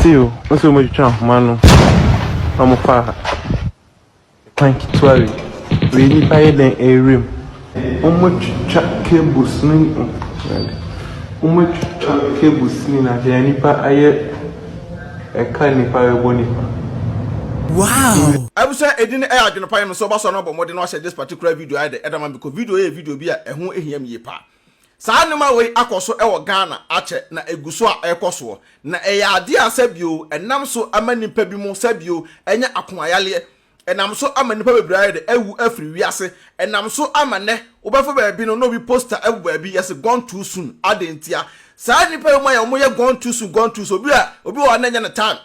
See o, o sɛ wɔn atwitwa ahoma no na wɔn fa kwan ketewa wei. Wei nipa yɛ dɛn ɛrewura mu. Wɔn atwitwa cables no mu. Wɔn atwitwa cables no nyinaa deɛ nipa ayɛ ɛka nipa ɛbɔ nipa. Wow! Ebu sɛ edin no yɛ adwene pa yɛ me nso ɔba so a na ɔbɔ mmɔden na wahyɛ this particular video ayɛ dɛ ɛda ma me kɔ video yɛ video bi a ɛho ehia me yie paa. Saa nneɛma wei akɔ so wɔ Ghana akyɛ na ɛgu so a ɛrekɔ soɔ. Na ɛyɛ adeɛ a sɛbio ɛnam so ma nnipa bi mo sɛbio anya akoma yareɛ, ɛnam so ama nnipa bebree ayɛ dɛ awu afiri wiase, ɛnam so ama nnɛ wobɛfa baabi no na obi poster agu baabi yɛse gone too soon adɛn ntia? Saa nnipa yi mo ayɛ wɔyɛ gone too soon gone too soon obi a obi wɔ hɔ a na ɛnyɛ ne time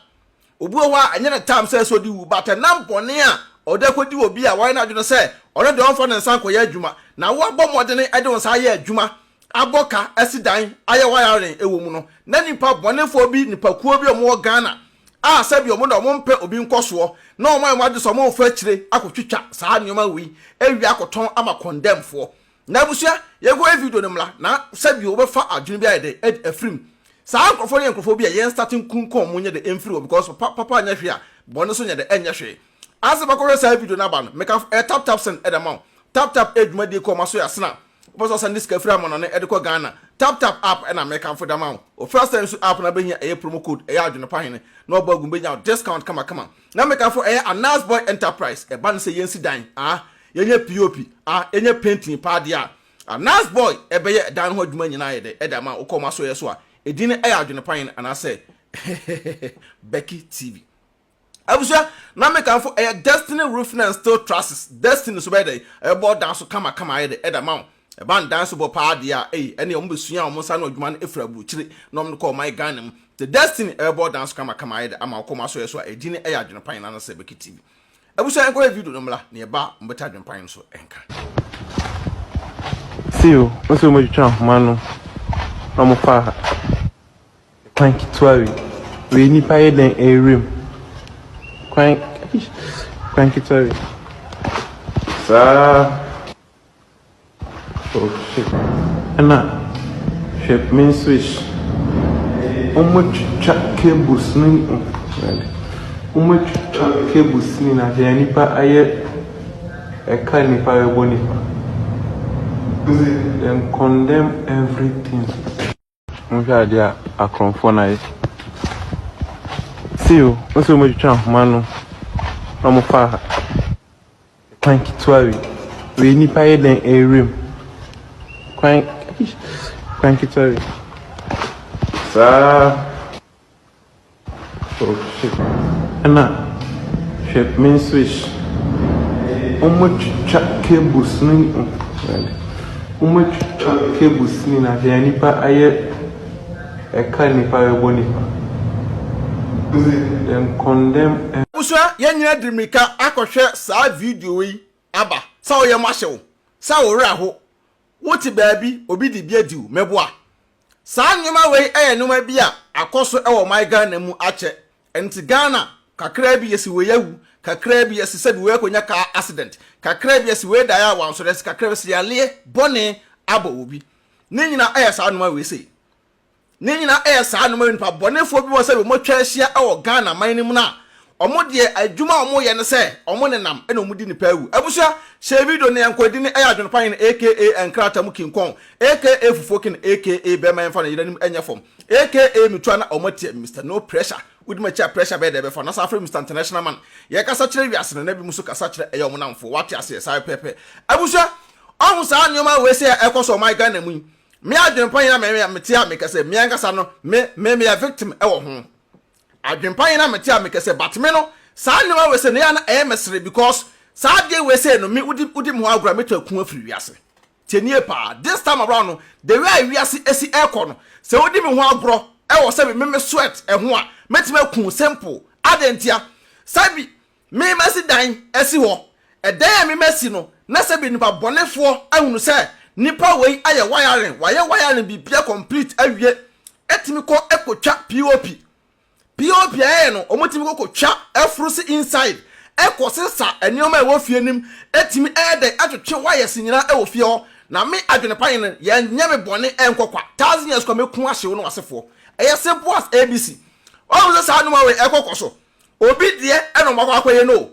Obi wɔ hɔ a, ɛnyɛ ne tam sɛ ɛsɛ sɛ odi wu, but ɛnam bɔne a ɔde akodi obi a wayɛ n'adwene sɛ ɔno deɛ ɔmfa ne nsa nkɔyɛ adwuma, na wo abɔ mmɔdene de wo nsa ayɛ adwuma, abɔ ka, asi dan, ayɛ wayarin wɔ mu no, na nipa bɔnefoɔ bi, nipakuo bi a wɔwɔ Ghana a sɛbi wɔn deɛ wɔmpɛ obi nkɔsoɔ, na wɔayɛ wɔn adwene sɛ wɔmfa akyire akɔtwitwa saa nneɛma wei awia akɔtɔn ama condemnfoɔ. Na abusua, yɛnkɔhwɛ video no mmra na sɛdeɛ wobɛfa adwene bi ayɛ dɛ adi afiri mu. Saa nkorɔfoɔ no yɛ nkorɔfoɔ bi a yɛn start nkun kɔn mu nyɛ dɛ mfiri hɔ because papa papa nyɛ hwee a bɔne nso nyɛ dɛ ɛnyɛ hwee. Ansa bɛkɔhwɛ saa video no aba no, meka ɛ tap tap send ɛde ama wo. Tap tap ɛ dwumadie kɔ ɔma so yɛ sena wopɛ sɛ ɔsɛnde sika firi amanɔne ɛde kɔ Ghana. Tap tap app ɛna mekamfo de ama wo. Wo first time nso app no abɛhia ɛyɛ promo code ɛyɛ adwene pa hene na wabɔ agu mu bɛnya wo discount kama kama. Na me ka fo ɛyɛ anas boy enterprise ɛba no sɛ yɛnsi dan aa yɛnyɛ pop aa yɛnyɛ painting paa deɛ aa anas boy ɛbɛyɛ ɛdan no ho adwuma nyinaa ayɛ dɛ ɛde ama wo kɔ ma so yɛ so a ɛdin no ɛyɛ adwene pa yen anaa sɛ hehehehe becky tv abusua na me ka fo ɛyɛ destiny roofing and steel trusses destiny so bɛyɛ dɛ ɛbɛbɔ dan so kama kama ayɛ dɛ ɛde ama wo Ɛba ndansebɔ paa deɛ a, ei, ɛneɛ wɔn bɛsuaa wɔn nsa ano adwuma no firi aburukyire na wɔn de kɔɔ ɔman Ghana mu. The Destiny ɛrebɔ danso kamakama ayɛ dɛ ama wɔkɔ wɔn asɔeɛ so a, ɛgye ne ɛyɛ adwenepan na anasɛ ɛbɛkɛ TV. Abusua yɛnkɔ hwɛ video no mmra, neɛ ɛba a, mobɛte adwenepan no so nka. See o, wɔn sɛ wɔn atwitwa ahoma no na wɔn fa kwan ketewa wei, wei nipa yɛ dɛn ɛrewura mu, kwan, kwan ketewa wei, saa. Ɛna hwɛ main switch. Wɔatwitwa cables no nyinaa. Wɔatwitwa cables no nyinaa. Deɛ nnipa ayɛ ɛka nnipa bɛbɔ nnipa. They condemn everything. Monhwɛ adeɛ a akorɔmfoɔ no ayɛ. See o, mo sɛ wɔatwitwa ahoma no na wɔfa kwan ketewa wei. Wei nipa yɛ dɛn ɛrewura mu? Kwan kwan ketewa wei. Saa. Ɛna hwɛ main switch. Wɔatwitwa cables no nyinaa. Wɔatwitwa cables no nyinaa. Hwɛ nnipa ayɛ ɛka a nnipa rebɔ nnipa. Dem condemn. Abusua yɛn nyinaa de mmirika akɔhwɛ saa video yi aba sɛ wo yam ahye wo, sɛ wo werɛ aho Wote baabi, obi de bi adi wo, mɛboa. Saa nneɛma wei yɛ nneɛma bi a akɔ so wɔ my Ghana mu akyɛ. Ɛno nti Ghana, kakraa bi yɛsi wei awu, kakraa bi yɛse sɛbi wei akɔnya car accident, kakraa bi yɛse wei daeɛ a wansɔre ase, kakraa bi yɛse yaleɛ bɔne abɔ obi. Ne nyinaa yɛ saa nneɛma wei sei. Ne nyinaa ɛyɛ saa no ma nnipa bɔnefoɔ bi wɔ sɛ wɔn atwa ahyia wɔ Ghana man no mu no a wɔn deɛ adwuma a wɔyɛ ne sɛ wɔn nenam na wɔn di nnipa awu abusua hyɛ video no yɛnkɔ ɛdin ɛyɛ adwene pa hene aka nkrata mu kinkɔn aka fufuo ken aka bɛma yɛmfa no yera nim ɛnyɛ fam aka metua na wɔn atia Mister no pressure wodi m'akyi a pressure bɛyɛ dɛ bɛfa na san frɛ Mister international man yɛkasa kyerɛ wiase no na bi mu so kasa kyerɛ ɛyɛ wɔn namfoɔ wate aseɛ saa pɛpɛpɛ abusua ɔho saa nneɛma wei sɛ ɛkɔ so ɔman Ghana mu yi. Me adwempa nyina me me mete a mekɛ sɛ me ankasa no me me meyɛ victim wɔ ho adwempa nyina mete a mekɛ sɛ but me no saa nnoɔma wei sɛ na yɛ a na ɛyɛ me sere because saa adeɛ wei sɛ no me wodi wodi me hɔ agorɔ a mɛtu aku afiri wiase tie nie paa this time around no the way a wiase ɛsi ɛkɔ no sɛ wodi me ho agorɔ ɛwɔ sɛ me me sweat ɛho a mɛtumi aku simple adɛn ntia sɛ bi Memasi dan asi hɔ. Ɛdan a memasi no, na sɛbe nnipa bɔnefoɔ ahunu sɛ nnipa wei ayɛ wayaren, wayɛ wayaren biribiara complete awie, ɛtumi kɔ kɔtwa POP. POP a ɛyɛ no, wɔtumi kɔ kɔtwa ɛforo se inside, ɛkɔ sesa nneɛma a ɛwɔ fie no mu, ɛtumi ɛyɛ dɛn ɛtwetwe wires nyinaa ɛwɔ fie hɔ. Na me adwene pa no, yɛnyɛ me bɔne nkɔ kwa, thousand years kwa mɛku ahye wo ne w'asefoɔ. Ɛyɛ simple as ABC. Woahu sɛ saa nneɛma wei ɛkɔ kɔ so? Obi deɛ ɛna ɔmo akɔ akɔyɛ no o.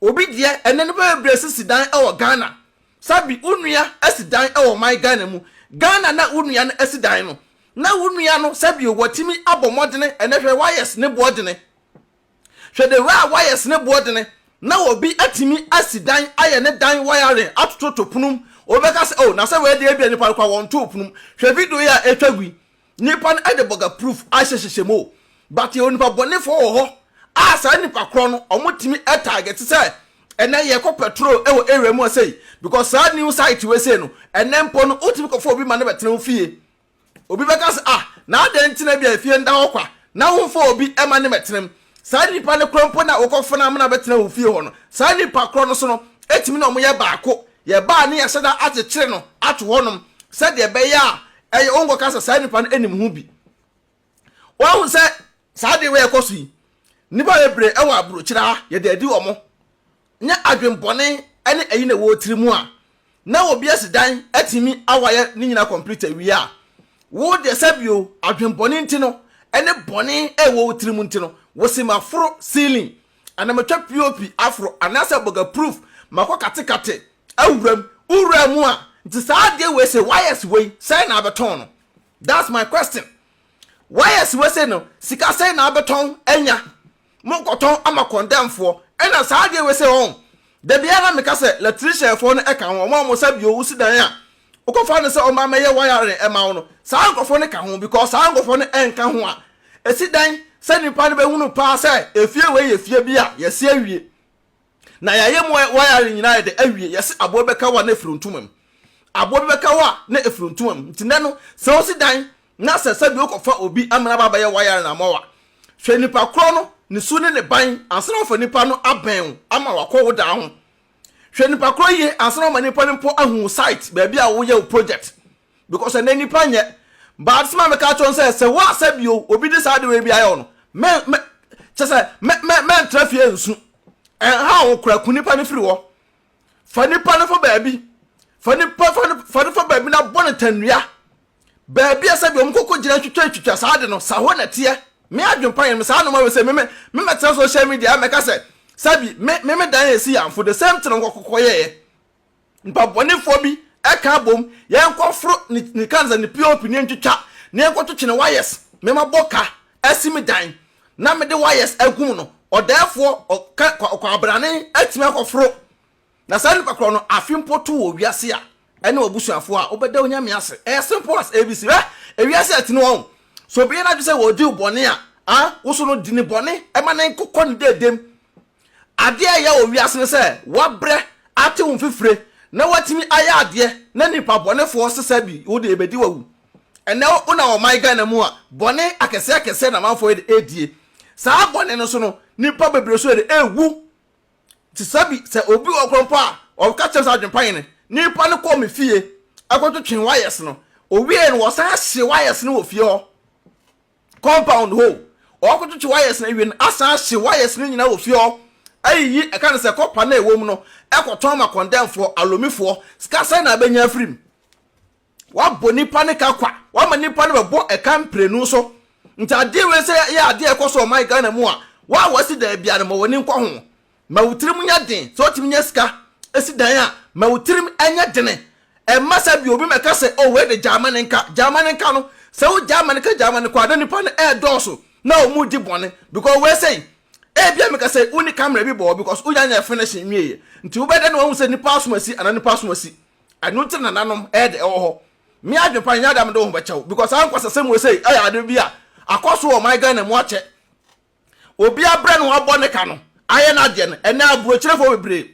Obi deɛ ɛnɛ nnipa bebree sisi dan ɛwɔ Ghana. Sabi wo nua ɛsi dan ɛwɔ ɔman Ghana mu. Ghana na wo nua no ɛsi dan no. Na wo nua no sɛbio watimi abɔ mmɔdene ɛnɛ hwɛ wires ne boɔdene. Hwɛ the ra wires ne boɔdene na obi atimi asi dan ayɛ ne dan wiring atototo pono mu. Obi bɛka sɛ oh na sɛ wei deɛ ebia nipa no koraa wɔntoo pono mu. Hwɛ video yi a ɛtwa gu yi. Nipa no de bɔga proof ahyɛ hyehyɛ mu o but yɛwɔ nipa bɔnefoɔ wɔ hɔ a saa nipa korɔ no ɔmo tumi target sɛ ɛnɛ yɛkɔ petrol wɔ area mu a sei because saa new site wei sei no ɛnɛ mpo no wotumi kɔfa obi ma no bɛtena wo fie obi bɛka sɛ ah na adɛn nti na bi a efie nda hɔ kwa na womfa obi ma no mɛtenam saa nipa no korɔ mpo na wokɔfa no ama no abɛtena wo fie hɔ no saa nipa korɔ no so no etumi na ɔmo yɛ baako yɛbaa ne yɛhyɛ da akyekyere no ato hɔnom sɛdeɛ ɛbɛyɛ a ɛyɛ wo nkɔka sɛ saa nipa no nim ho bi wahu sɛ saa de wei ɛkɔ so yi nipa bebree ɛwɔ aburokyerɛ ha yɛde adi wɔn nyɛ adwempɔne ɛne ɛyi na ɛwɔ tiri mu a na obi asi dan atumi awayɛ ne nyina complete awie a wo deɛ sɛbio adwempɔne nti no ɛne bɔne ɛwɔ wo tiri mu nti no wosi ma foro ceiling Ana metwa POP aforo anaasɛ bɔga proof makɔ katekate awura mu? Wo wuraa mu a nti saa adeɛ wei sei wires wei sɛn na abɛtɔn no? That's my question. Wires wei sei no sika sɛn na abɛtɔn anya? Monkɔtɔn ama kɔndɛmfoɔ ɛna saa adeɛ wei sei ɔn? Da biara na meka sɛ latricianfoɔ no ɛka ho wɔn a wɔsa bio wosi dan a Wokɔfa no sɛ ɔmma mɛyɛ wayare ɛma wo no saa nkorɔfoɔ no ka ho because saa nkorɔfoɔ no ɛnka ho a ɛsi dɛn sɛ nipa no bɛhunu paa sɛ efie wei yɛ fie bi a yɛsi awie na yɛayɛ mu wayare nyinaa yɛde awie yɛse aboa bi bɛka hɔ a na ɛfiri ntoma mu aboa bi bɛka hɔ a na ɛfiri ntoma mu nti nɛ no sɛ wosi dan na sɛ sɛbi wokɔfa obi ama no aba abɛyɛ wayare no ama wo a hwɛ nipa korɔ no ne su ne ne ban ansa na wafa nipa no abɛn wo ama wakɔ wo dan ho Hwɛ nipa korɔ yie ansa na wama nipa no mpo ahu wo site baabi a woyɛ wo project because ɛnɛ nipa nyɛ but sɛ ma meka akyerɛ no sɛ sɛ woasɛ bio obi de saa adewei bi ayɛ wo no mɛ mɛ kyɛ sɛ mɛ mɛ mɛntra fie nsu ɛnha wo kora ku nipa no firi hɔ fa nipa no fa baabi fa nipa fa no fa no fa baabi na bɔ no tannua Baabi a sɛdeɛ wɔn koko gyina twitwa ntwitwa saa de no saa hɔ na ɛteɛ me adwene pa yɛn me saa noma wei sɛ me me me mɛtena social media mɛ ka sɛ sɛbi me me me dan yɛ si yanfo the same thing wɔn koko yɛ yɛ nipa bɔne foɔ bi ɛka abom yɛn kɔ foro ne ne kansa ne pop ne ntwitwa ne yɛn kɔ twitwa ne wires me ma bɔ ka ɛsi me dan na me de wires agum no ɔdɛɛfoɔ ɔka ɔkɔ abrane ɛtumi akɔ foro. Na saa nipa korɔ no afe mpo to wɔ wiase a ɛne w'abusuafoɔ a wobɛda Onyame ase. Ɛyɛ simple as ABC. Hwɛ! Ewiase a ɛtene wɔn. Sɛ obi yɛ n'adwene sɛ ɔredi wo bɔne a, a, wo so no di no bɔne ma no nkokɔ ne deedem. Adeɛ a ɛyɛ wɔ wiase ne sɛ woabrɛ, ate wo mfifire, na woatumi ayɛ adeɛ na nipa bɔnefoɔ sesa bi wo deɛ ɛbɛdi w'awu. Ɛnnɛ wo nam ɔman Ghana mu a, bɔne akɛseɛ akɛseɛ na amanfoɔ yɛ de redie. Saa bɔne no so no, nipa bebree nso yɛ de rewu. Te sɛ bi sɛ obi wɔ hɔ mpo a ɔka kyerɛ sɛ adwempa yɛ no, nipa no kɔɔ me fie kɔtwetwee wires no, owiei no wɔsan ahyee wires no wɔ fie hɔ compound hɔ o, ɔkɔtwetwe wires no awie no asan ahye wires no nyinaa wɔ fie hɔ ayiyi ɛka no sɛ kɔpa no a ɛwɔ mu no ɛkɔtɔn ma kɔndɛmfoɔ, alomifoɔ, sika sɛn na abɛnya afiri mu? Wabɔ nnipa no ka kwa. Wama nnipa no bɛbɔ ɛka mprenu so. Nti adeɛ wei sɛ yɛ adeɛ ɛkɔ so ɔman Ghana mu a, wo a wasi dan biara no ma w'ani nkɔ ho. Ma wo tirim nyɛ den. Sɛ wotumi nya sika si dan a, ma wo tirim nyɛ dene. Ɛmma sɛ bi obi mmɛka sɛ oh wei de gyaa ma no nka. Gyaa ma no nka no, sɛ wo gyaa ma no ka gyaa ma no kɔ a, na nnipa no ɛɛdɔɔso na wɔn redi bɔne. Because wei sei, ebia meka sɛ wonni camera bi bɔ hɔ because wonya nyɛɛ finish nwieɛ. Nti wobɛda na wahu sɛ nnipa asom asi anaa nnipa asom asi. ɛno nti na nanom ɛde ɛwɔ hɔ me adwepa nyɛ adam de ho bɛkyɛw because ankwa sɛ sɛm wesei ɛyɛ ade bi a akɔ so wɔ man Ghana mu akyɛ obi abrɛ no abɔ ne ka no ayɛ n'adeɛ no ɛnɛ aburokyerɛfoɔ bebree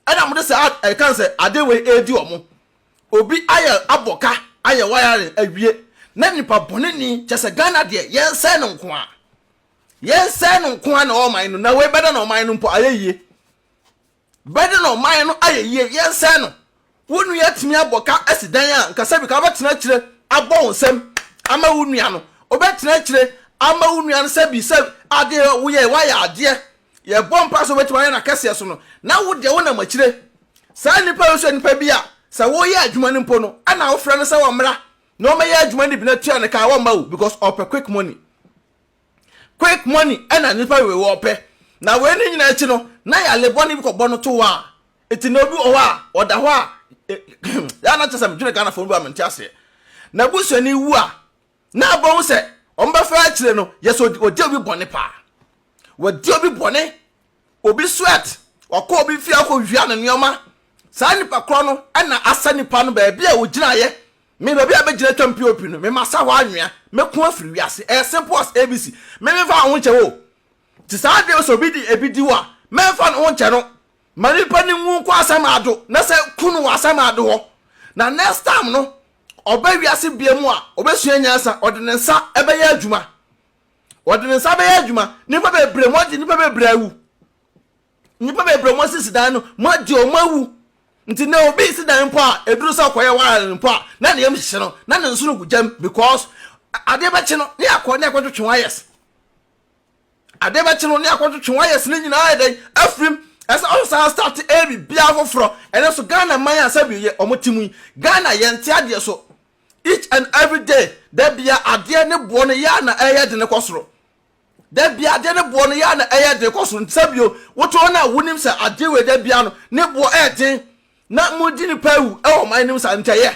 ɛna mo de sɛ ɛkan sɛ ade wei ɛredi ɔmo obi ayɛ abɔ ka ayɛ wiring awie na nipa bɔne ni kyɛ sɛ Ghana deɛ yɛnsɛe no nko a yɛnsɛe no nko a na ɔman no na wei bɛda na ɔman no mpo ayɛ yie Bɛde no ɔman no ayɛ yie yɛnsɛe no Wo nua atumi abɔ ka asi dan a nka sɛbi ka wobɛtena akyire abɔ wo nsam ama wo nua no Wobɛtena akyire ama wo nua no sɛbi sɛ adeɛ a woyɛɛ woayɛ adeɛ Yɛbɔ mpaeɛ sɛ wobɛtumi ayɛ no akɛseɛ so no na wo deɛ wonam akyire Saa nnipa wei nso yɛ nnipa bi a sɛ woreyɛ adwuma no mpo no ɛna wofrɛ no sɛ ɔmmra na ɔmmɛyɛ adwuma no bi na tua no ka a wɔmma o because ɔpɛ quick money. Quick money na nnipa wei wɔpɛ. Na wei ne nyinaa akyi no, na yale bɔne bi kɔbɔ no to hɔ a, eti na obi wɔ hɔ a, ɔda hɔ a, yɛ na kyɛ sɛ medwene Ghanafoɔ no bi a mente aseɛ. Na busuani wu a, na abɛhu sɛ wɔbɛfa akyire no, yɛsɛ wɔdi obi bɔne paa. Wɔdi obi bɔne obi sweat, wakɔ obi fie akɔwia ne nneɛma, saa nipa korɔ no na asa nipa no baabi a ɔgyinaeɛ, me baabi a mɛgyina atwam POP no, me masa hɔ anwea, mɛko afiri wiase, ɛyɛ simple as ABC, me memfa me ho nkyɛ wo, te saa adeɛ sɛ obi de ebi di wo a, mɛmfa ne ho nkyɛ no, ma nipa no nwu nkɔ asɛm ado, na sɛ ku no wɔ asɛm ado hɔ, na next time no, ɔba wiase biam a, ɔbɛsua nyansa, ɔde ne nsa bɛyɛ adwuma. Wɔde ne nsa bɛyɛ adwuma. Nnipa bebree, moagye nnipa bebree awu. Nnipa bebree moasisi dan no, moagye wɔn awu. Nti nnɛ obi si dan mpo a, ɛduru sɛ ɔkɔyɛ wiring mpo a, na ne yam hyehye no, na ne nsono gu gyam because adeɛ bɛkye no ne akɔ ne akɔtwetwe wires. Adeɛ bɛkye no ne akɔtwetwe wires ne nyinaa yɛ dɛn afirim ɛsɛ ɔsan start ɛyɛ biribiara foforɔ ɛnɛ so Ghana man a sɛbi yɛ wɔn te mu yi Ghana yɛnte adeɛ so Each and every day, da bia adeɛ ne boɔ no yɛ a na ɛyɛ de ne kɔ soro. Da bia adeɛ ne boɔ no yɛ a na ɛyɛ de kɔ soro. Nsa bio, wotɔn no a wonim sɛ adeɛ wei da bia no ne boɔ ɛyɛ den na mo di nipa awu ɛwɔ man nim sa ntɛyɛ.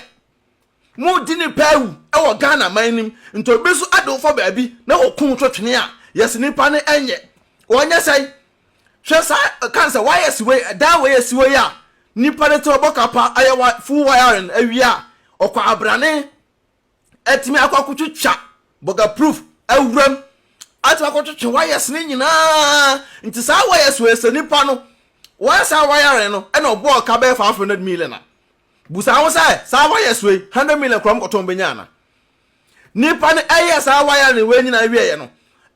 Mo di nipa awu ɛwɔ Ghana man nim nti obi so ɛde wofɔ baabi na wɔkum twetwene a yɛsi nipa no ɛnyɛ wɔnyɛ sɛn. hwɛ saa kan sɛ wires wei dan wei esi hɔ yi a nipa de te ɔbɔ kapa ayɛ wa full wiring awie a ɔkɔ abrane atumi akɔ akotwitwa bɔga proof awuram atumi akɔtwitwa wires ne nyinaa nti saa wires wei sɛ nipa no wɔyɛ saa wiring no ɛna ɔbɔɔ ka bɛyɛ five hundred million a busa ho sɛ saa wires wei hundred million kura mu kɔtɔn bɛnya ana Nipa no ɛyɛɛ saa wire no wei nyinaa wie yɛ no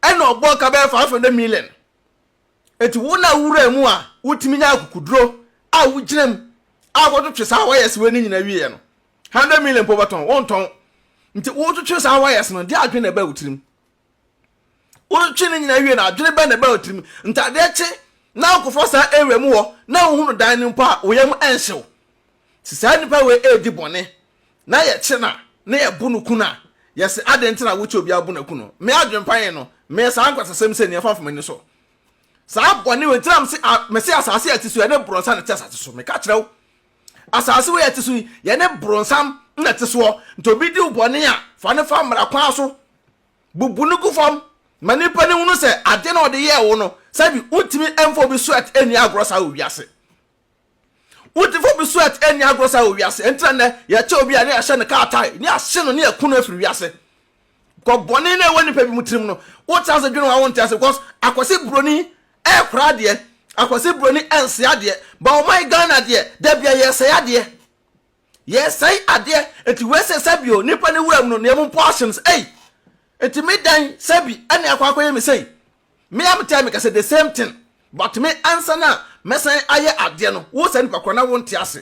ɛna ɔbɔɔ ka bɛyɛ five hundred million eti wo na wura mu a wotumi nya akukuduro a wogyina mu a wɔtwetwe saa wires wei no nyinaa wie yɛ no hundred million po bɛtɔn wɔntɔn nti wotwetwe saa wires no deɛ adwene na ɛbɛ wo tirim. Wotwe ne nyinaa wie no, adwene bɛn na ɛbaa wo tirim? Ntadeɛ kye na wokɔfa saa area mu hɔ na wohu no dan no mpo a, wo yam nhyew. Sɛ saa nipa wei redi bɔne na yɛkye no a, na yɛbo no ku no a, yɛse adɛn nti na wokyɛ obi abo no aku no? Me adwempa he no, meyɛ saa nkwaseasɛm sei no yɛmfa mfa m'ani so. Saa bɔne wei nti na mese asase a ɛte so, ɛne borɔnsa na ɛte asase so. Meka kyerɛ wo. Asase wei a ɛte so yi, yɛne boronsam na ɛte soɔ. Nti obi di wo bɔne a, fa no fa mmara kwan so. Bubu no gu fam ma nnipa no hunu sɛ adeɛ no a ɔde yɛɛ wo no, sɛbi wontumi mfa obi sweat nni agorɔ saa wɔ wiase. Wontumi mfa obi sweat nni agorɔ saa wɔ wiase. Ɛnti na nnɛ yɛkyɛ obi a ne yɛahyɛ no kaa tae, ne yɛahye no, ne yɛku no afiri wiase. Kɔ bɔne no a ɛwɔ nipa bi mu tirim no wotra ase dwene ho a wonte ase because akwasi broni ɛkora adeɛ akwasi broni ɛnse adeɛ ba ɔma yɛ Ghana adeɛ dabia yɛsɛe adeɛ yɛsɛe adeɛ nti wɛsɛ sɛbio nipa ne wura mu no ne ɛmu portions ei nti me dan sɛbi ɛne akɔ akɔyɛ me sei me am tell me kɛsɛ the same thing but me ansa na mɛsan ayɛ adeɛ no wosɛ nipa kora na wonte ase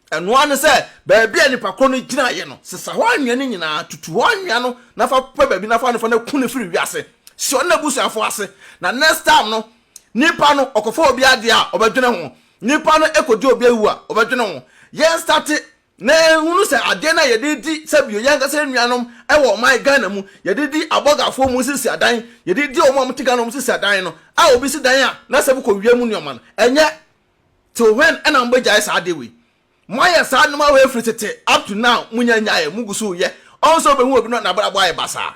Ɛno ara ne sɛ, baabi a nnipa korɔ no gyinaeɛ no, sesa hɔ anwea no nyina ara, tutu hɔ anwea no, na fa pɛ baabi na fa no fa no ku no firi wiase, si ɔno n'abusuafoɔ ase, na next time no, nipa no, ɔkɔfa obi adeɛ a, ɔbɛdwene ho, nipa no kɔdi obi awu a, ɔbɛdwene ho, yɛn starte na yɛhunu sɛ adeɛ no a yɛde redi sɛ bio, yɛn ankasa nuanom wɔ ɔman Ghana mu, yɛde di abɔgafoɔ wɔn sisi adan, yɛde di wɔn a wɔte Ghana wɔn sisi adan no, a obi si dan a, na sɛ mokɔ wia mu nneɛma no, ɛnyɛ. till when ɛna mo bɛ gyae saa ade wei mo ayɛ saa nnoɔma wei firi tete up to now mo nya nyaeɛ mo gu so yɛ ɔn sɛ ɔbɛhu obi no nabrabɔ ayɛ basaa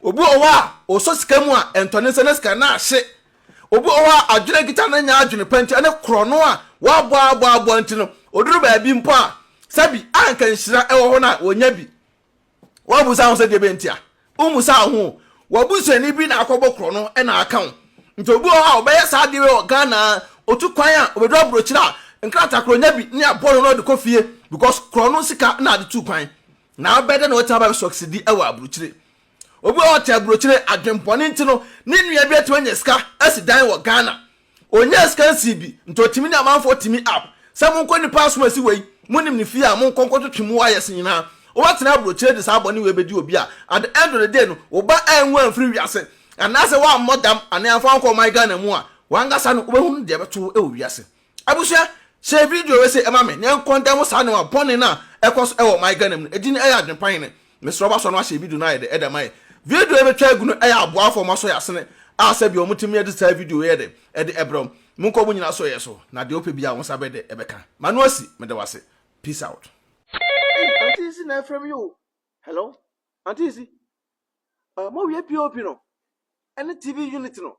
obi wɔ hɔ a ɔsɔ sika mu a ɛntɔ ne nsa na sika no ahye obi wɔ hɔ a adwene kita no nya adwene pa nti ɛne korɔno a wɔabɔ abɔ abɔ nti no ɔduru baabi mpo a sɛbi anka nhyira ɛwɔ hɔ no a wɔnya bi Woabisa ho sɛ deɛ bɛ nti a? Wommisa wo ho. W'abusuani bi na akɔbɔ korɔ no na aka wo. Nti obi wɔ hɔ a ɔbɛyɛ saa adeɛ wɔ Ghana a, ɔtu kwan a ɔbɛduru aburokyire a, nkrataa korɔ ɔnya bi ne abɔ no na ɔde kɔ fie because korɔ no sika na ade tuu kwan. Na abɛ dɛ na watumi aba bɛ succeedi wɔ aburokyire. Obi wɔ hɔ ɔte aburokyire, adwenbɔne nti no, ne nua bi atumi anya sika asi dan wɔ Ghana. Ɔnyaa sika nsii bi, nti ɔtumi ne amanfoɔ tumi up sɛ monkɔ nipa asom a ɛsi wei, monim ne fie a, monkɔ nkɔtwetwe mu wires nyinaa. Woatena aburokyire de saa bɔne wei bɛdi obi a, at the end of the day no, wo ba anwu amfiri wiase, anaasɛ woammɔ dam anaa amfa wankɔ ɔman Ghana mu a, w'ankasa no wobɛhunu deɛ ɛbɛto wo wɔ wiase. Abusua, share video wei sei ma me na yɛnkɔndɛm saa nneɛma bɔne no a ɛkɔ so wɔ ɔman Ghana mu no, ɛdin ɛyɛ adwene pa hene? Mesrɛ wɔasɔ no ahyɛ video no ayɛ dɛ ma yɛ. Video yi metwa agu no yɛ aboafo a wɔasɔ yɛ asene a sɛbea wɔtumi yɛ de saa video yi yɛ dɛ de brɛ wo. Monkɔ mo nyinaa so yɛ so na deɛ wopɛ biara wo nsa bɛyɛ dɛ bɛka. M'ano asi. Meda wo ase. Peace out. Ei auntie Sisi na ɛfrɛ me yi o hello auntie Sisi uh, mo wie POP no ɛne TV unit no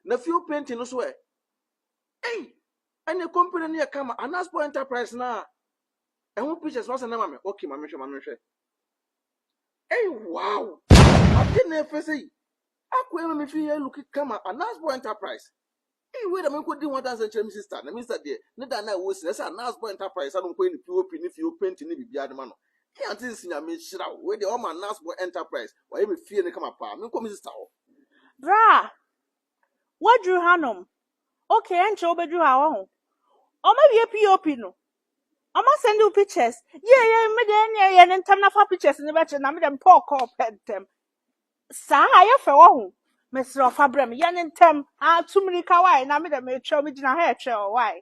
na fuel painting no so ɛ ei ɛne company no yɛ kama Anaspo enterprise na Ɛho pictures no asɛn ama me. Okay, ma menhwɛ, ma menhwɛ. Hey, wow! Ade na ɛfɛ sɛ yi. Akɔ ɛma me fi yɛ look kama Anasbo Enterprise. Hey, wei na menkɔ di ho adanse nkyerɛ me sister. Na me sister deɛ, ne da na ɛwɔ sin. Ɛsɛ Anasbo Enterprise ano nkɔ yɛ ne POP ne fie openti ne biribiara de ma no. Hey, ante nsi nyame nhyira wo. Wei deɛ, ɔma Anasbo Enterprise. Wayɛ me fie no kama paa. Menkɔ me sister hɔ. Berɛ a Woaduru hanom. Okay, ɛnkyɛ wobɛduru ha, wahu. Wɔawie POP no. Wɔasɛnde wo pictures. Yie, yie, me deɛ ɛnneɛ yɛ no ntɛm na fa pictures no bɛkyerɛ na me deɛ mepɛ ɔkɔɔ pɛ ntɛm. Saa a, yɛ fɛ, wahu. Mesrɛ wo fa brɛ me, yɛ no ntɛm. Ah, tu mmirika, wae, na me deɛ meretwɛn, megyina ha retwɛn wo, wae.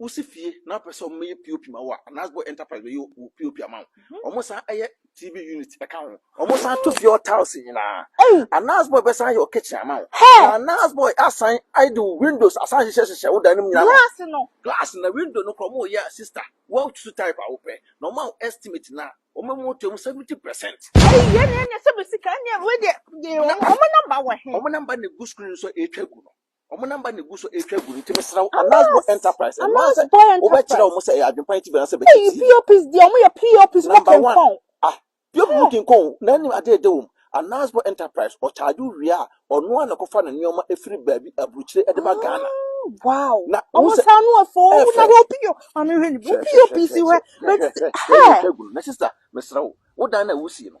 Wosi fie na wopɛ sɛ wɔyɛ POP ma wo a, Anasbo Enterprise bɛyɛ wo POP ama wo. Mhm. Wɔsan yɛ TV unit ka ho. Wɔsan to fie hɔ tiles nyinaa. Ei! Anasbo bɛsan yɛ wo kitchen ama wo. Hɛ! Na Anasbo asan ayɛ de wo windows asan hyehyɛ hyehyɛ wo dan no mu nyinaa. Glass no. Glass na window no kora wɔyɛ a sister, woatu type a wopɛ. Na wɔma wo estimate na wɔma mu to mu 70%. Ei, yɛn na yɛn na ɛsɛ bɛ sika. Ɛnneɛ wei deɛ, yɛ wɔn, wɔn number wɔ he? Wɔn number na egu screen so a ɛretwa gu no. Wɔn namba na egu so retwa gu no nti mesrɛ wo announce boy enterprise announce sɛ wobɛkyerɛ wɔn sɛ ɛyɛ adwempa nti bɛn sɛ bɛkyɛ ti pops deɛ wɔn yɛ pops mo kenkɔn ah pops mo kenkɔn na anim ade ɛdɛ wɔm announce boy enterprise ɔkyaagye wie a ɔno a na kɔfa ne nneɛma efiri baabi aburukyire ɛde ba Ghana wow na wɔn sɛ wɔn ano afɔ wɔn na wɔn pio maame hwɛ ni wɔn pio pisi hwɛ bɛ ti hɛ na sista mesrɛ wo wo dan na wusie no.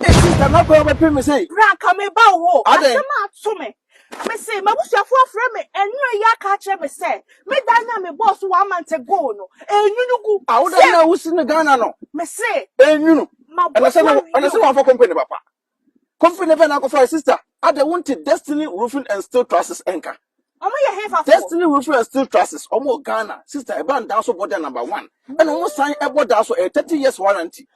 Esi dɛn na bere bɛpem me sɛ. Bra anka meba wo hɔ. Adɛn? Asɛm ato me. Mise m'abusuafo afrɛ me anwummere yi aka akyerɛ me sɛ me dan no a mebɔɔ so wɔ Amante Goal no, ɛrenwunu gu. A wo dan no a wusi no Ghana no. Mise. Ɛrenwunu. Mabɔ so awie o. Ɛna sɛ wamfa company papa. Company bɛn na akɔfae sister? Adɛn wonte Destiny Roofing and Steel Trusses nka? Ɔmo yɛ hefa fo? Destiny Rufin and Steel Trusses, ɔmo wɔ Ghana, sister ɛbaa daa so bɔ da number one, ɛna ɔmo san ɛbɔ daa so ɛyɛ thirty years warranty,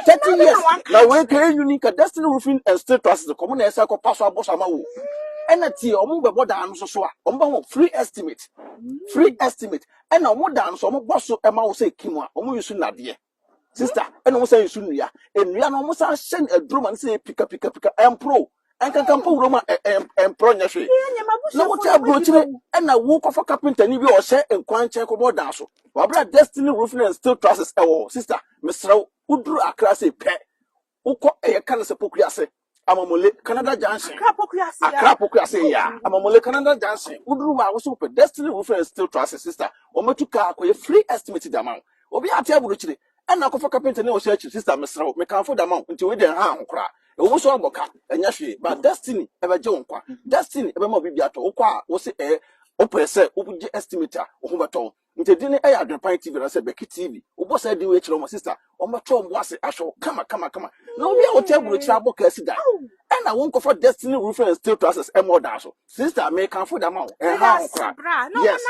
thirty years, na wei ka yɛ unique ka Destiny Rufin and Steel Trusses ka ɔmo na ɛsan kɔ pa so abɔ so ama wo, ɛna tie ɔmo bɛ bɔ daa no so so a, ɔmo bɛ ho free estimate, free estimate, ɛna ɔmo daa no so ɔmo bɔ so ɛma wo sɛ kim a, ɔmo use nnadeɛ. Sister, ɛna wɔn san nsu nnua. Nnua no wɔn san hyɛ no aduro ma no sɛ pika pika pika ɛmporo. Ɛnkankan mpo wuram a ɛmporo nyɛ hwee. Na wote aburokyire ɛna wokɔfa kapentani bi a ɔhyɛ nkwan nkyɛn kɔbɔ dan so. Wabra destiny roofing and steel trusses ɛwɔ hɔ. Sister, mesrɛ wo, woduru Accra sei pɛ, Wokɔ ɛyɛ ka no sɛ Poku ase, Amamule, Canada Junction. Accra Poku ase ya. Accra Poku ase ya, Amamule, Canada Junction. Woduru hɔ a, wosɛ wopɛ Destiny Roofing and Steel Trusses, sister, wɔatu kaa akɔyɛ free estimate de ama wo. Obi ate aburokyire, ɛnna akɔfa kapentani a ɔhyɛ akyiri, sister, mesrɛ wo, mekamfo de ama wo, nti wei deɛ ɛnha ho koraa. Ɛwɔ mu sɛ woabɔ ka, ɛnyɛ hwee, but Destiny bɛgye wo nkwa. Destiny bɛma wo biribi atɔ. Wokɔ a, wose ɛɛ, wopɛ sɛ wogye estimate a, wo ho bɛtɔ wo. nti edin no yɛ adwenpan tv anaasɛ bɛki tv wobɔ saa din wei kyerɛ wɔn sista wɔbɛtɔ wɔn bo ase ahwɛ wo kama kama kama na obi a wote aburokyerɛ abɔ kaa si da ɛna wonkɔfa destiny roofing and steel trusses ɛma ɔdaa so sista mekamfo da ma wo ɛha ho kora yes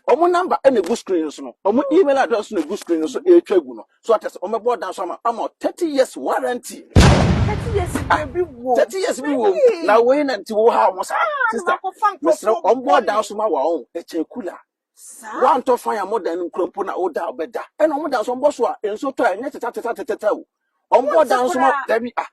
wɔn namba ɛna egu screen no so no wɔn email address no egu screen no so ɛretwa gu no so ɔtɛ sɛ wɔbɛbɔ ɔdan so ama ama thirty years warranty thirty years ah, bi wo thirty years bi wo na wei na nti wo ha wɔn sa sista mesrɛ wɔn bɔ ɔdan so ma wɔn ɛkyɛ kula. Saa. Wantɔ fan a modan no nkura mpo na woda ɔbɛda. Ɛna wɔn dan so wɔbɔ so a nso tɔ a ɛnyɛ tetɛtetɛtetɛtɛ o. Wɔn bɔ dan so ma dabi a.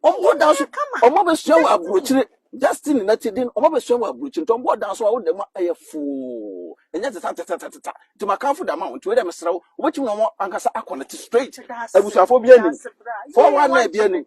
Wɔn bɔ dan so wɔn abɛsua wɔ aburokyire Justin na ti din wɔn abɛsua wɔ aburokyire nti wɔn bɔ dan so a woda mu a ɛyɛ foo ɛnyɛ tetɛtetɛtetɛtɛ nti makanfo da ma wɔn nti wei dɛ mesrɛ wo wobɛtumi na wɔn ankasa akɔ ne te straight abusuafo bi anim fɔwa na ebi anim.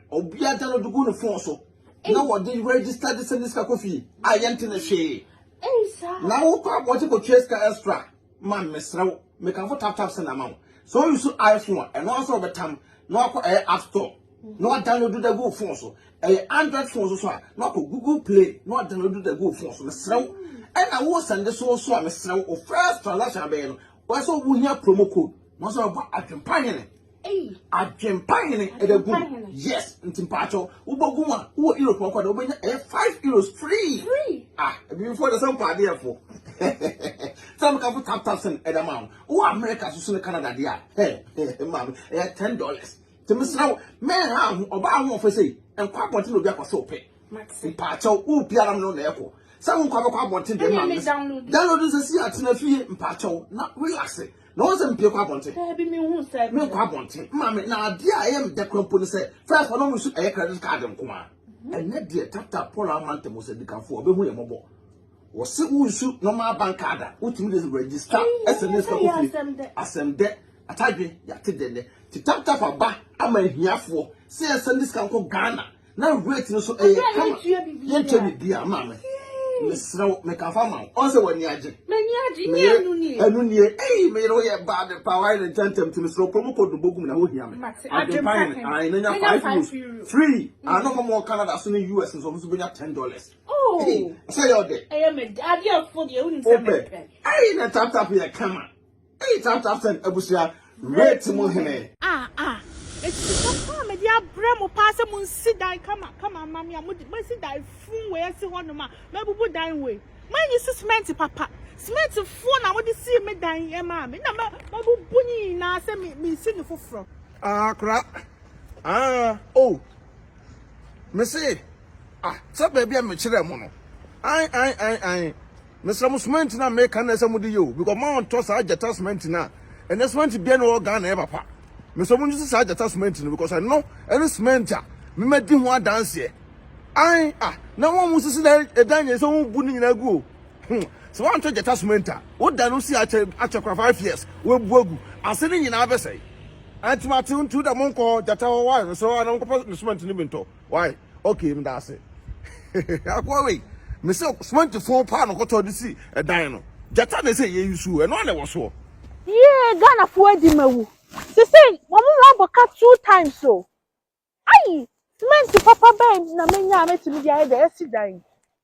Obiara da no de gu ne fon so na wɔde register de sɛnde sika kɔ fie a yɛnte ne hwee. Na wokɔ abɔnten kɔtua sika extra ma mesrɛ wo mekamfo tap tap send ama wo. Sɛ wo use iPhone a ɛno ara sɛ wɔbɛtam na wakɔ ɛyɛ app store na wadownload da gu wo fon so. Ɛyɛ Android phone so so a na wakɔ Google Play na wadownload da gu wo fon so mesrɛ wo. Ɛna wo sɛnde so so a mesrɛ wo wo first transaction abɛyɛ no wɔyɛ sɛ wohia promo code na wɔsɛ wɔbɔ adwempa hene. Adwempa hene ɛda gu yes nti mpaatɔ wobɔ gu mu a wowɔ europe ɔkɔ de wobɛnya ɛyɛ five euros free ah abibifo de sɛ mpa adeɛ fo sɛ meka fo tap tap sɛn ɛda ma wo wowɔ america soso ne canada deɛ a hɛ maame ɛyɛ ten dollars nti mesrɛ wo mɛnha ho ɔbaa ho ɔfɛ sɛ nkɔ abɔnten na obi akɔ sɛ ɔpɛ mpaatɔ wo biara m no na ɛkɔ sɛ wo nkɔ abɛkɔ abɔnten deɛ maame download nsɛ si atena fie mpaatɔ na relaxe Na wɔn sɛ mpie kɔ abɔnten. Daabi mi hu sɛ. Mi nkɔ abɔnten. Maame na adeɛ a ɛyɛ mi dɛ kura mpo ne sɛ first wɔn mu nso ɛyɛ credit card nko ara. Ɛnɛ deɛ tata Paul ama ntɛm sɛ dikanfo ɔbɛhu yɛn mɔbɔ. Wɔsi wo nsu normal bank card a wotumi de register ɛsɛ ne sika kɔ fie. Asɛm dɛ atadwe yate dɛ nɛ ti tap tap aba ama ahiafoɔ sɛ yɛn sɛ ne sika nkɔ Ghana na weight no so ɛyɛ kama yɛntwa biribi a maa me mesrɛ wo mekafa ma wo ɔn sɛ w'ani agye meyɛ ɛno nie ei meyere woyɛ baa de pa wae ne ntɛntɛm nti mesrɛ kuro mu kɔ dobo gum na wohia me adwempa hene ae na nya five euros free ano ma mɔ canada so ne us nso ɔmo so bɛnya ten dollars oh. sɛ yɛ ɔdɛ wopɛ ei na taptap yɛ kama Eii tap tap send abusua rate mu hene. Ah ah ɛtiri pa pa a mede abrɛ mo paa sɛ monsi dan kama kama mma me a mode masi dan fun wei asi hɔ nom a mabubu dan wei manyi si cement papa cement foɔ na mode sii me dan yi ɛmaa me na mabubu ne nyinaa sɛ me mesi ne foforɔ. Ah kora ah oh mese ah sɛ baabi a mekyerɛ mo no ae ae ae ae. Mesrɛ mo cement no a meka no na ɛsɛ mode yɛ o because mo a ɔntɔ saa gyata cement no a ɛnɛ cement biara na ɛwɔ Ghana ɛyɛ papa. Mesrɛ mo nyi saa gyata cement no because ɛno ɛne cement a memadi ho adanseɛ. Ae ah na wɔn a wɔsisi na ɛdan nyɛ sɛ wɔn bu ne nyinaa gu o. Hmm. Sɛ wɔantɔ gyata cement a woda no si akyɛ akyɛ kora five years wɔabu agu ase ne nyinaa bɛsɛe. Anti mate ntu da mo nkɔ gyata hɔ wa mesrɛ wɔn a na wɔnkɔpɛ ne cement no bi ntɔ. Wai okay meda ase. Akoa wei me se cement fon paa no kɔtɔ de si ɛdan no. Gyata na ɛsɛ yɛyi so ɛno ana ɛwɔ soɔ. Yee Ghana foɔ adi ma wu. Sesei wɔn ho abɔ ka two times o. Ayi cement papa bɛn na menya a mɛtumi de ayɛ de asi dan yi.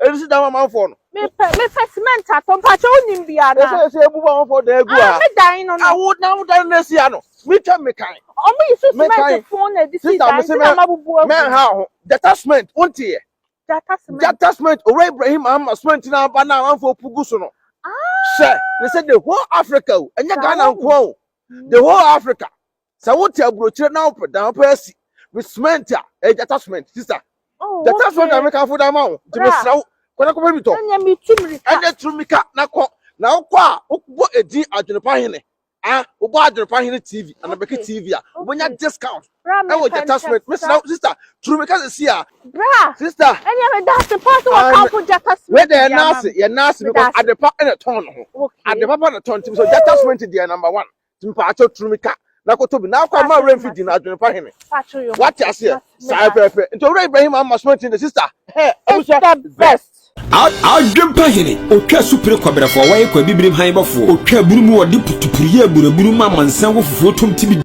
Ebi si dan amanfoɔ no. Mepɛ mepɛ cement atɔ mpakyɛ wonim bi ana. Ɛsɛ ɛsɛ ebu amanfoɔ dan egu ha. Ah me dan no no. Awo na awo dan no esi ha no. Mi twɛ mi kan. Ɔmo yi so cement fun na edi si dan ti na ma bubu agu. Mɛ ha ho jata cement wo nti yɛ. Jata cement. Jata cement owura Ibrahim ama cement na aba na amanfoɔ pugu so no. Ah. Sɛ ne sɛ the whole Africa o ɛnyɛ Ghana nkoa o the whole Africa sɛ wote aburokyire na wopɛ dan wopɛ asi me cement a ɛyɛ gyata cement sista oh, gyata cement na mekamfo da ma wo nti mesrɛ wo kɔnɛ kɔpɛ bi tɔ ɛnɛ turu mika na kɔ na wokɔ a wobɔ edin adwenepa hene a wobɔ adwenepa hene tv anabɛke tv a wobɛnya discount ɛwɔ gyata cement mesrɛ wo sista turu mika sɛ si a sista ɛnɛ meda ase pa sɛ wɔkamfo gyata cement yɛ naase yɛ naase because adepa ɛna tɔn no ho adepa pa na tɔn nti mesɛ gyata cement deɛ number one mpatsɔ turu mi ka na koto bi na akwa ma awura nfi di na adwene pa hene wate aseɛ saa pɛpɛ nti owura ibrahim ama soma nti ne sista hɛ abusua best adwene pa hene otwa supere kwabrɛfoɔ wɔyɛ kwa bibirim han bɔfoɔ otwa bunu mu ɔde putupuru yɛ aburaburu ma amansan wɔ fufuo tom ti bi